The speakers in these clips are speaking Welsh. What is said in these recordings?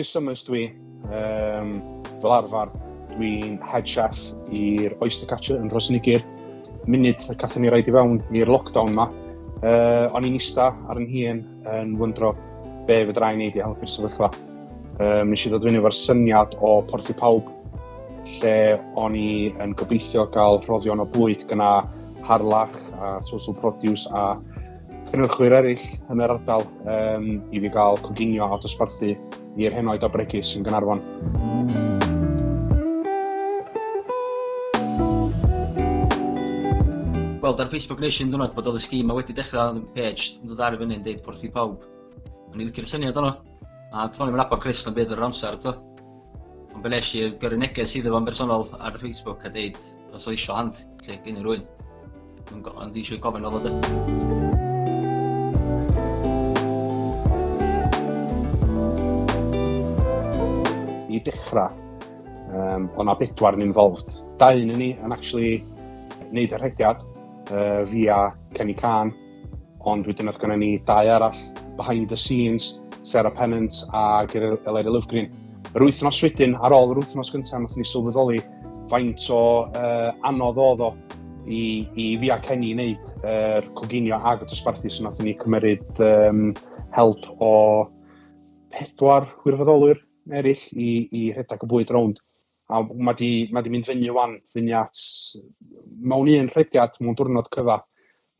Chris Summers dwi. Um, fel arfer, dwi'n head chef i'r Oyster Catcher yn Rhosnigir. Munud y cathon ni raid i fewn i'r lockdown ma, uh, o'n i'n ista ar yn hun yn wyndro be fy draen i wedi helpu'r sefyllfa. Um, nes i ddod fyny efo'r syniad o Porth i Pawb, lle o'n i yn gobeithio gael rhoddion o bwyd gyna harlach a social produce a cynnyrchwyr eraill yn yr ardal um, i fi gael coginio a dosbarthu i'r henoed o bregus yn Gaernarfon. gweld ar Facebook nes i'n dwrnod bod oedd y sgîm a wedi dechrau yn page yn dod ar y fyny'n deud porth i pawb. O'n i licio'r syniad o'n A dwi'n i'n abo Chris yn bydd yr amser to. Ond be nes i gyrru neges iddo fo'n bersonol ar Facebook a deud os o eisiau hand, lle gen i rwy'n. Dwi'n go- ond eisiau gofyn fel ydy. I dechrau, um, o'n na bedwar yn involved. Da un yn ni yn actually wneud y rhediad uh, via Kenny Khan, ond wedyn oedd gen ni dau arall behind the scenes, Sarah Pennant a Eleri Lovegreen. Yr wythnos wedyn, ar ôl yr wythnos gyntaf, nath ni sylweddoli faint o uh, anodd oedd o i, i fi a Kenny wneud yr uh, coginio ag y dosbarthu, so nath ni cymryd um, help o pedwar wirfoddolwyr eraill i, i rhedeg y bwyd rownd. A mae di, ma di mynd fyny wan, fyny at, mewn un rhediad, mewn diwrnod cyfa,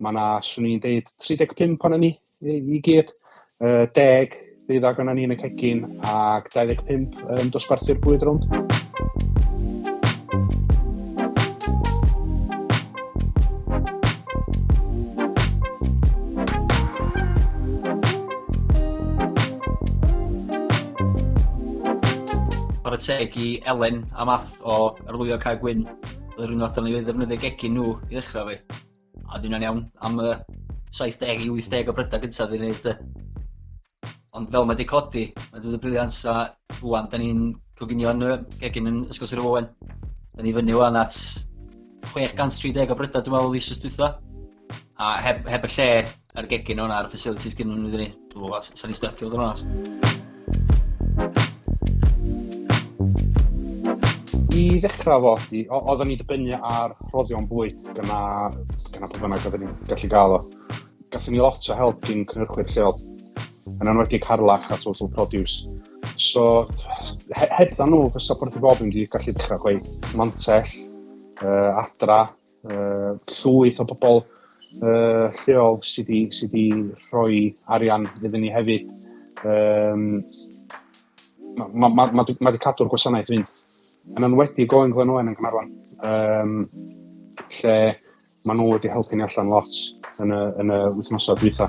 mae yna, swn i'n deud, 35 pan ni I, i gyd. Uh, deg ddeuddag o'na ni yn y cegin ac 25 yn dosbarthu'r bwyd rownd. Ar y teg i Elen a Math o Arlwyo Cae Gwyn, yr un o'r ni wedi ddefnyddio gegin nhw i ddechrau fi. A dyna'n iawn am y 70 i 80 o brydau gyntaf fi'n neud de. Ond fel mae wedi codi, mae wedi bod yn briliant a rwan, da ni'n coginio'n y gegin yn Ysgol Sir Owen. Da ni fyny wan at 630 o brydau dwi'n meddwl eisoes dwytha. A heb, heb y lle A'r gegin o'n ar facilities gynnu nhw iddyn ni. Dwi'n meddwl, sa'n ni styc i fod yn onest. I ddechrau fo, oeddwn ni'n dibynnu ar rhoddion bwyd gyna, gyna pwy bynnag oeddwn ni'n gallu gael o. Gatho ni lot o help gyn cynhyrchwyr lleol, yn enwedig Harlach a Total Produce. So, he hebdda nhw, fysa Porth i Bob yn gallu dechrau gweud mantell, uh, adra, uh, llwyth o bobl uh, lleol sydd wedi sy rhoi arian iddyn ni hefyd. Um, mae ma, ma, ma, ma wedi cadw'r gwasanaeth fynd. Yn enwedig o England Owen yn Gynarfon, um, lle maen nhw wedi helpu ni allan lot yn y, yn y wythnosau dwytha.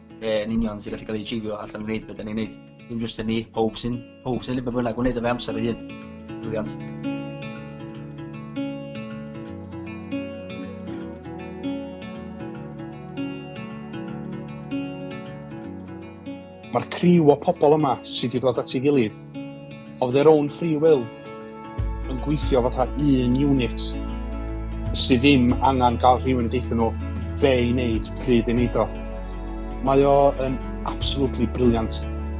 be yn union sy'n gallu cael ei achievio allan yn gwneud beth da ni'n gwneud. Dim jyst yn ni, pob sy'n pob sy'n liber bynnag gwneud efe amser ei hun. Briliant. Mae'r criw o pobl yma sydd wedi dod at ei gilydd of their own free will yn gweithio fatha un unit sydd ddim angen cael rhywun yn deithio nhw be i wneud, pryd i wneud o. Mae o yn absolutely brilliant.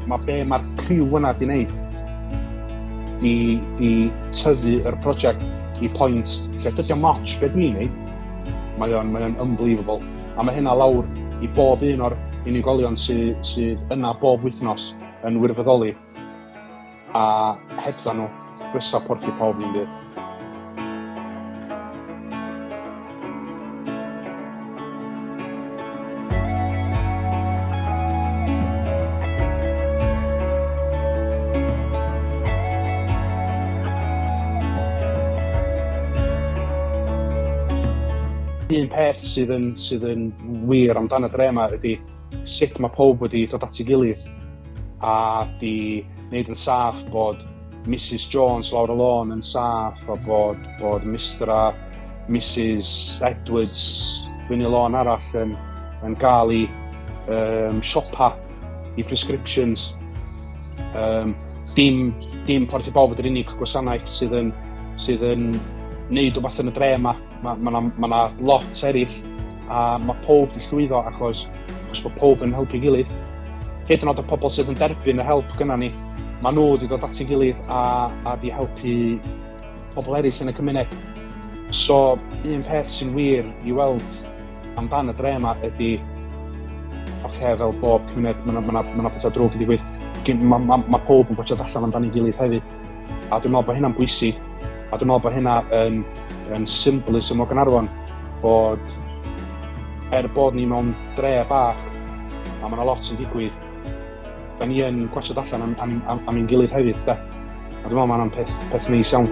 Mae be mae'r criw yna di wneud di, di tyfu yr prosiect i pwynt lle dydy o moch beth ni'n neud. Mae o'n mae o'n unbelievable. A mae hynna lawr i bob un o'r unigolion sydd sy yna bob wythnos yn wirfoddoli a hebdda nhw, dwysau porth i pawb yn byd. un peth sydd yn sydd yn wir amdan y dre 'ma ydi sut mae pob wedi dod at ei gilydd a di wneud yn saff bod Mrs Jones lawr y lôn yn saff a bod, bod Mr a Mrs Edwards fyny y lôn arall yn, yn gael ei um, siopa i prescriptions. Um, dim, dim Porth i Bawb ydy'r unig gwasanaeth sydd yn, sydd yn neud o beth yn y dre yma. Mae yna ma, ma, ma lot eraill a mae pob yn llwyddo achos, achos bod pob yn helpu gilydd. Hyd yn oed y pobl sydd yn derbyn y help gyda ni, mae nhw wedi dod at ei gilydd a, a wedi helpu pobl eraill yn y cymuned. So, un peth sy'n wir i weld amdan y dre yma ydy oce, okay, fel bob cymuned, mae yna ma ma, ma pethau drwg yn digwydd. Mae ma, ma pob yn gwachod allan amdano'i gilydd hefyd. A dwi'n meddwl bod hynna'n bwysig, a dwi'n meddwl bod hynna yn, yn symbolism o Gynarfon, bod er bod ni mewn dre bach, a mae yna lot yn digwydd, da ni yn gwachod allan am, am, am, am ein gilydd hefyd, da. A dwi'n meddwl mae yna'n peth, peth neis iawn.